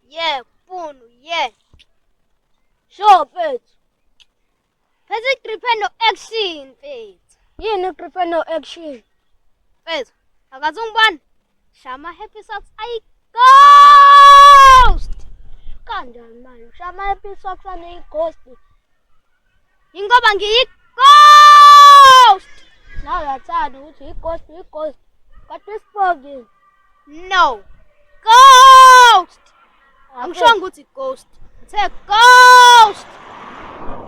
Yeah, Punu, yeah. Sure, mfethu. Phela igripe no action, mfethu. Yini igripe no action? Mfethu, akaze ungibani? Shama happy socks ayi ghost. Kanjani manje? Shama happy socks aneyi ghost. Ingoba ngiyi-ghost. Nawe uyathanda ukuthi uyi-ghost, uyi-ghost. Kodwa isipoki. No. Ghost. Angishongo ukuthi ghost. Ngithe ghost.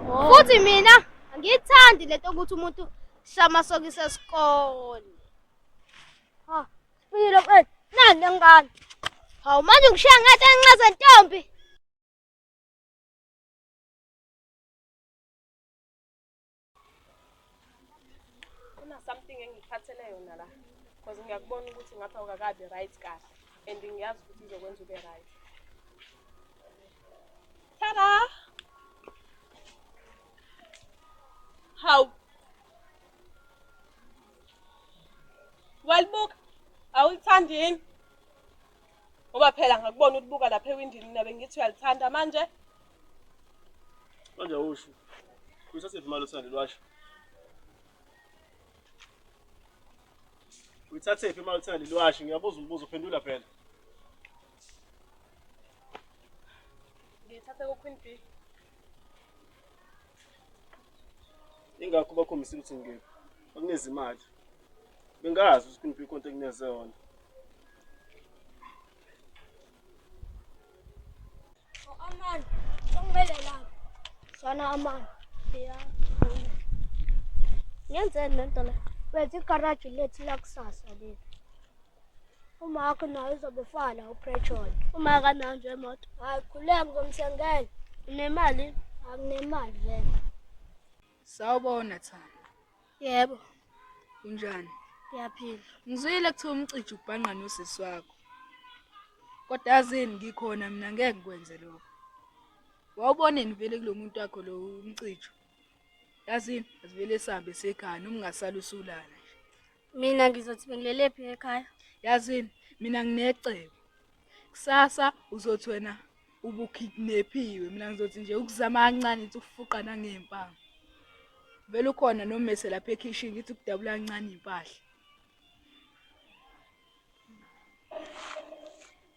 Oh. Futhi mina angiyithandi lento ukuthi umuntu shama sokise esikole. Ha, sipilo kwethu. Nani lengane. Hawu manje ngishiya ngathi enxeza ntombi. something engikhathele yona la because ngiyakubona ukuthi ngapha ukakabi right kahle and ngiyazi ukuthi izokwenza ube right tada hawu walibuka awulithandi yini ngoba phela ngakubona ulibuka lapha ewindini mina bengithi uyalithanda manje manje usho usasiphi imali osanda lwasho uyithathephi imali osanda lwasho ngiyabuza umbuzo uphendula phela ngiyithathe ku-queen b ingakho bakhombisa ukuthi ngikephi bakunikeza imali bengazi ukuthi kuniphi ikonto ekuneze yona Amani, sokumele lapho. Sana amani. Ya. Ngenzeni lento la? Wenza igaraji lethu lakusasa leli. uma wakho nayo izobufana upetrol uma akanayo nje imoto hayi khuleka ngizomthengela unemali anginemali vele sawubona thana yebo unjani ngiyaphila ngizwile kuthiwa umcija ubhanqa nosisi wakho kodwa yazini ngikhona mina ngeke ngikwenze lokho wawuboneni vele kulo muntu wakho lo umcijo yazini asivele sihambe sekhaya noma ungasala usulala Mina ngizothi bengilelephi ekhaya. Yazini mina nginecebo. Kusasa uzothi wena ubukidnaphiwe mina ngizothi nje ukuzama kancane ukuthi ukufuqa nangempama. Vele ukhona nomese lapha ekhishini ngithi ukudabula kancane impahla.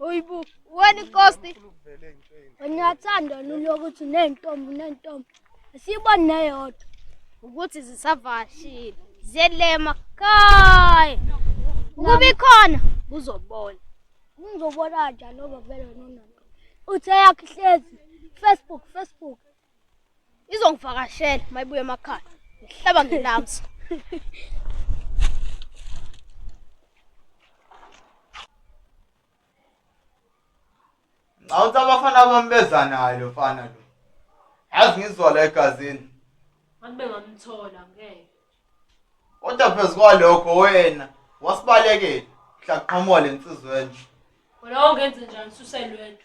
Uyibu, wena inkosi. Ngiyathanda lolu ukuthi nentombi nentombi. Siyibone neyodwa ukuthi zisavashile. Ziyelema kai. Ukuba ikhona kuzobona. Ngizobona kanjani oba vele nononto. Uthe yakhe ihlezi Facebook Facebook. izongivakashela mayibuye emakhaya ngihlaba ngenamso Ngawuthi abafana bami beza naye lo mfana lo. Yazi ngizwa la egazini. Ngabe ngamthola ngeke. Kodwa phezu kwalokho wena wasibalekela. Mhla qhamuka lensizwe enje. Wena ungenze njani suselwedwa?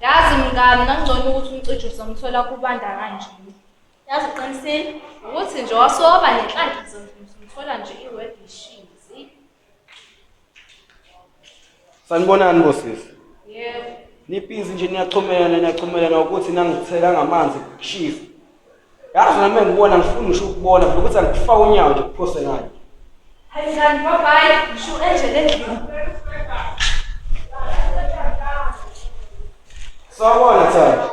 Yazi mngani ngangcono ukuthi umcijo uzomthola kubanda kanje. Yazi uqinisile ukuthi nje wasoba nenhlanhla uzomthola nje iword ishizi. Sanibonani bosisi. Yebo. Niphizi nje niyaxhumelana niyaxhumelana ukuthi nangithela ngamanzi kushisa. yazi nami engibona ngifuna ngisho ukubona vele ukuthi angikufaka unyawo nje kuphose ngani hayi kanti babayi ngisho enje lendlini sawubona thanda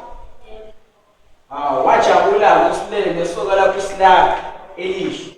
hawu wajabula-ke usilele nesoka lakho isilaka elihle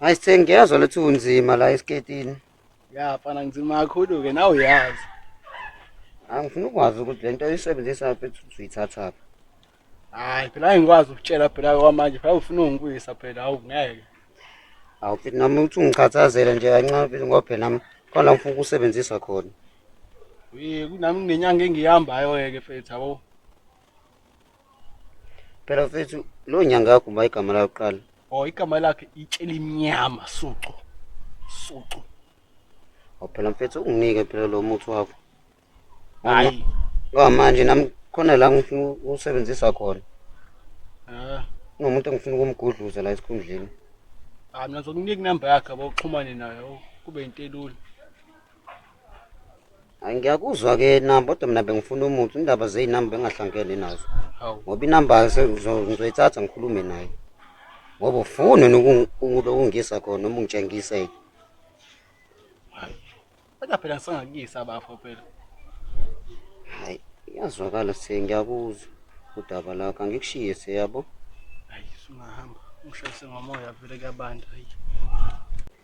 Hayi sengiyazwa lethi unzima la esiketini. Ya fana ngizima kakhulu ke nawe uyazi. Angifuni ukwazi ukuthi lento oyisebenzisa lapha ethi uyithatha phi. Hayi phela angikwazi ukutshela phela kwamanje phela ufuna ungibuyisa phela hawu ngeke. Awu futhi nami uthi ungichathazele nje kancane futhi ngoba phela nami khona ngifuna ukusebenzisa khona. Uye kunami nenyanga engihambayo ke fethu yabo. Phela mfethu lo nyanga yakho uma igama layo kuqala. Oh igama lakhe itshela imnyama sucu. Sucu. Oh phela mfethu unginike phela lo muthi wakho. Hayi. Ngoba manje nami khona la ngifuna usebenzisa khona. Ah. Ngomuntu engifuna ukumgudluza la esikhundleni. Ah mina ngizokunika inamba yakhe boxhumane nayo kube into elula. Hayi ngiyakuzwa ke inamba kodwa mina bengifuna umuthi indaba zey'namba bengahlangene nazo Hawu. ngoba inamba se- ngizo- ngizoyithatha ngikhulume naye ngoba ufune nokungisa khona noma ungitshengise-ke Kodwa phela ngisangakuyisa bafo phela. hayi iyazwakala se ngiyakuzwa udaba lakho angikushiye se yabo Hayi sungahamba. Ungishayise ngomoya vele kuyabanda. Hayi.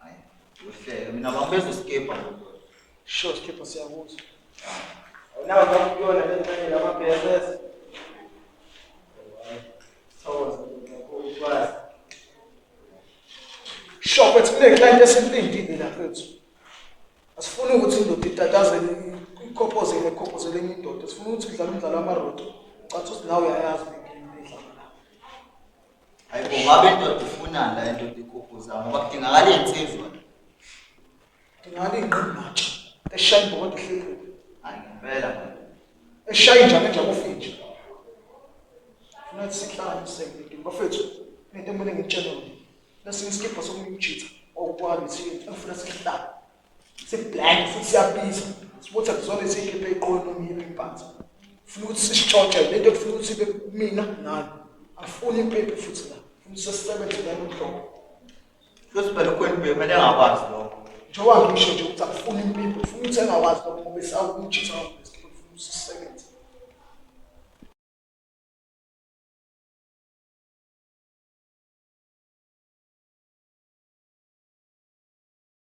Hayi, uhleke mina bangibeza skipper. Sure skipper siyakuzwa. Awunawo kakuyona le nto lama BSS. Thokoza kakhulu kwazi. Sure kwethu kule client esilindile la kwethu. Asifuni ukuthi indoda itatazele ikhophoze ikhophoze lenye indoda. Sifuna ukuthi udlale umdlalo wamarodo. Cathi uthi nawe uyayazi Hayi bo ngabe indoda ifunani la indoda ikhuphuza ngoba kudingakala insizwa. Kudingakala ingqinqa. Eshaya ibhokodo ehlekile. Hayi ngempela. Eshaya injalo nje kufinje. Funa sihlale sengidinga bafethu. Nento emune ngitshela. Lesinye isikipha sokumjitha okwami siyenza. Ngifuna sihlale. siblank futhi siyabiza sibutha kuzona esiyikhiphe iqolo noma iyiphi impatha funa ukuthi sisitshotshe le nto kufuna ukuthi ibe mina nani afuni impepe futhi la funa sesisebenze ngalo nhlobo losibele kwenu bemele angakwazi lokho njengoba ngisho nje ukuthi akufuni impepe funa ukuthi engakwazi lokho ngoba esawukujisa funa sisebenze